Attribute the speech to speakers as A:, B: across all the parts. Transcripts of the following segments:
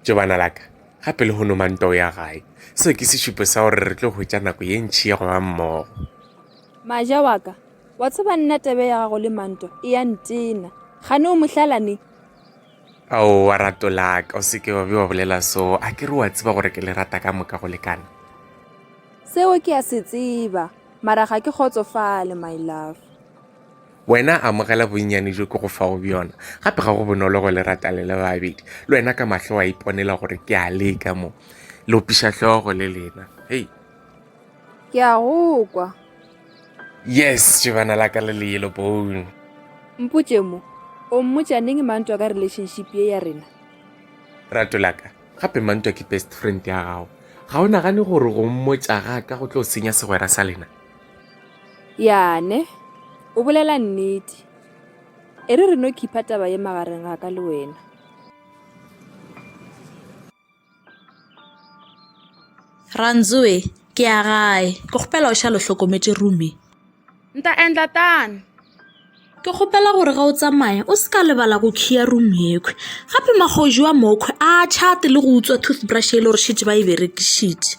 A: tše bana laka gape le hono mantoo ya gae seo ke sešupo sa gore re tlo hwetša nako ye ntšhi ya go ba mmogo maja wa ka wa tseba nna tebe ya gago le manto e ya ntena gane o mohlalane ao wa rato laka o seke wa be wa bolela so a ke re wa tseba gore ke le rata ka moka go lekana seo ke a se tseba mara ga ke kgotsofale my love Wena amogela bonnyane jo ke go fago bjona. Gape ga go bonolo go le rata le le babedi. Le wena ka mahlo wa iponela gore ke a leka mo. Le opiša hlogo le lena. Hei. Ke a go kwa. Yes, jebana la ka le le yellow bone. Mpotše mo, o mmotša neng mantwa ka relationship ye ya rena? Rato la ka, gape mantwa ke best friend ya gago. Ga o nagane gore go mmotša ga ka go tlo senya segwera sa lena? Yane, o bolela nnete. E re re no khipha taba ye magareng ga ka le wena. Rantsoe, ke ya gae. Ke kgopela o šale o hlokometše Rumi. Nta endla tano. Ke kgopela gore ga o tsamaya o se ka lebala go khiya room yekhwi gape magoji wa mokhwi a chate le go utswa toothbrush e le gore šetše ba e berekišitše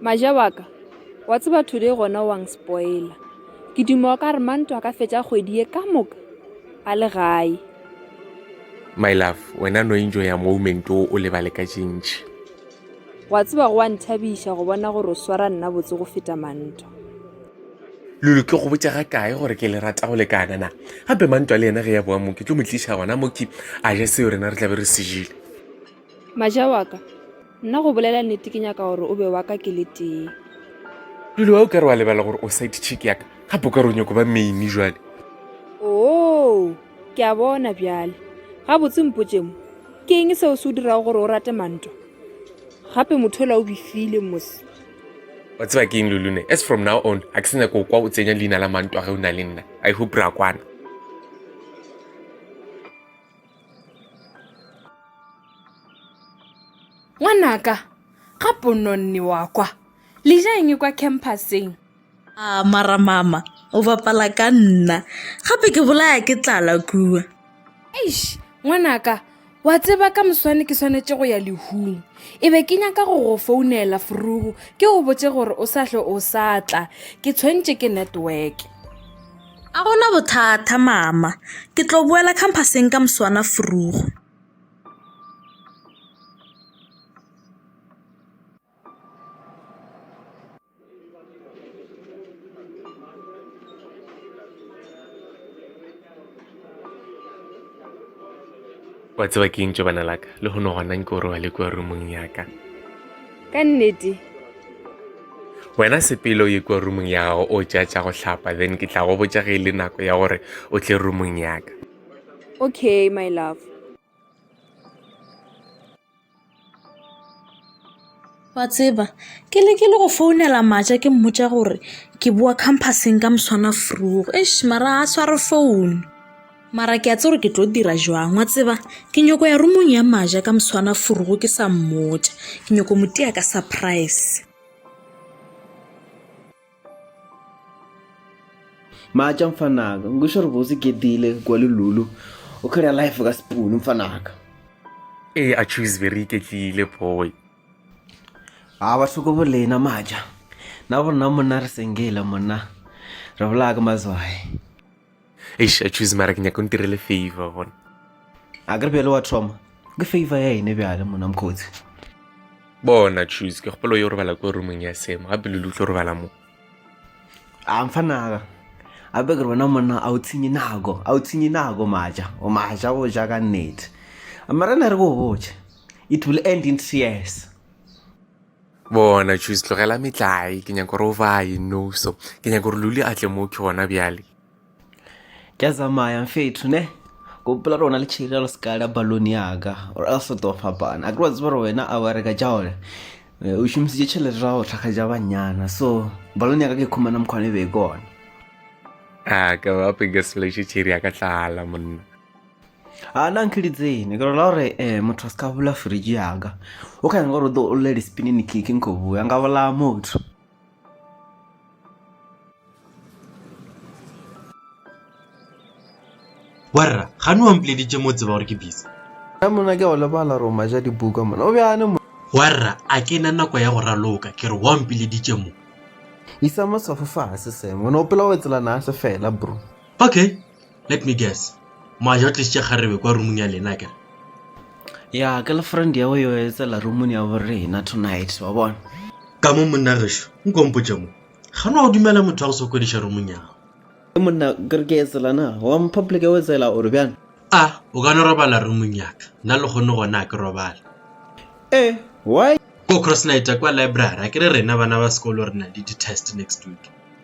A: maja wa ka wa tseba today gona wang spoiler ke duma wa ka re manto a ka fetša kgwedi ye ka moka a le gae my love wena no enjo ya moment o o lebale ka tšintši wa tseba go wa nthabiša go bona gore o swara nna botse go feta manto lulu ke go botša ga kae gore ke le rata go lekana na gape mantwa le yena ge ya boa mo ke tlo mo tliša gona moki a ja seo rena re tlabe re sejile Maja wa ka, nna go bolela nnete ke nyaka gore o be wa ka ke le tee. Lulu, a o ka re wa lebala gore o side chick ya ka? Gape o ka re o nyako ba maine jwale? Oo, ke a bona bjale. Gabotse mpotše mo, ke eng seo se o dirago gore o rate Mantwa? Gape motho ola o bifile mose. Wa tseba ke eng Lulu ne? As from now on, a ke se nyako o kwa o tsenya leina la Mantwa ge o na le nna. I hope ra kwana. ngwanaka ga pononne wa kwa le ja eng kwa campuseng a mara mama o bapala ka nna gape ke bolaya ke tlala kua eish ngwanaka wa tseba ka moswane ke swanetše go ya lehung e be ke nyaka go go founela forugu ke go botse gore o sa hle o sa tla ke tshwentše ke network A go na bothata, Mama. Ke tlo boela khamphaseng ka moswanaforogo. Wa tseba ke eng tšobana la ka? Lehono gona nke o robale kua rumong ya ka. ka nnete wena sepele o ye kua rumong ya gago o tša tša go hlapa then ke tla go botša ge e le nako ya gore o tle rumong yaka okay my love wa tseba ke le ke le go founela matša ke mmotša gore ke boa campuseng ka moswana frugo eš mara a sware founu mara ke a tse gore ke tlo dira jwang wa tseba ke nyoko ya rumong ya maja ka moswana furugo ke sa mmotša ke nyoko motia ka surprise maja mfanaka ngisho re botse ke dile kwa lelulu o kgera life ka sepunu mfanaka ee a choose very iketlile boy a ba hloko bolena maja na borena monna re sengele monna re bolaya ka mazwae eish a choose mara ke nyaka o ntirele favor bona a kere bjale wa thoma ke favor ya ene bjale mona mokgotsi bona choose ke kgopolo yo robala ko roomong ya semo gape lule o tlo robala mo a mfa naga gape ke re bona monna a o tshenye nako a o tshenye nako maja o maja go ja ka nnete mara na re ko o boje it will end in tears bona jus tlogela metlae ke nyako gore o baye noso ke nyako gore luli a tle mo ke gona bjale ke a tsamaya mfetho ne gopola rona le tšhiri re seka la balone yaka or else o tlo fapana a ke wa tseba gore wena a wa reka jaone eh, o šomisitše tšhelete ra go tlhaga ja banyana so balone yaka ke khumana mokgwane be kone a ka ba pekeseleše tšhiri ya ka tlala monna a na nke ditsene ke rola gore um motho a se ka bula fridge yaka o ka nyaka gore o tlo o lle dispinini keke nko bua nka bolaya motho warra ga ne wampoleditše mo tseba gore ke bisa a mona ke go lebala gore o maja dibuka mona o bjane mo warra a ke na nako ya go raloka ke re wampoleditše mo isa mosofo fase semo o ne o pela o etselana a se fela bro okay Let me guess. Maja o tlisitše kgarebe kwa rumung ya lena kere. Ya ke le friend ya o yo etsela rumuni ya bo rena tonight wa bona. Ka mo monna gešo, nkompotše mo. Ga no dumela motho wa go sokodiša rumung ya gago. Ke monna ke re ke etsela na, wa mo public ya o etsela gore bjang? A, o ka no robala rumung ya ka. Nna le kgone gona ke robale. Eh, why? Ko cross night kwa library, a ke re rena bana ba sekolo re na le di-test next week.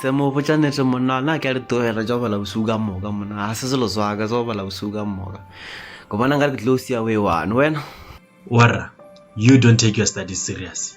A: se mo botša nete monna ona ke a di tlogela tša go bala bosigo ka moka monna ga se selo swaka tsa go bala bosigo ka moka ke bona nka re ke tlo sia o e one wena warra you don't take your studies serious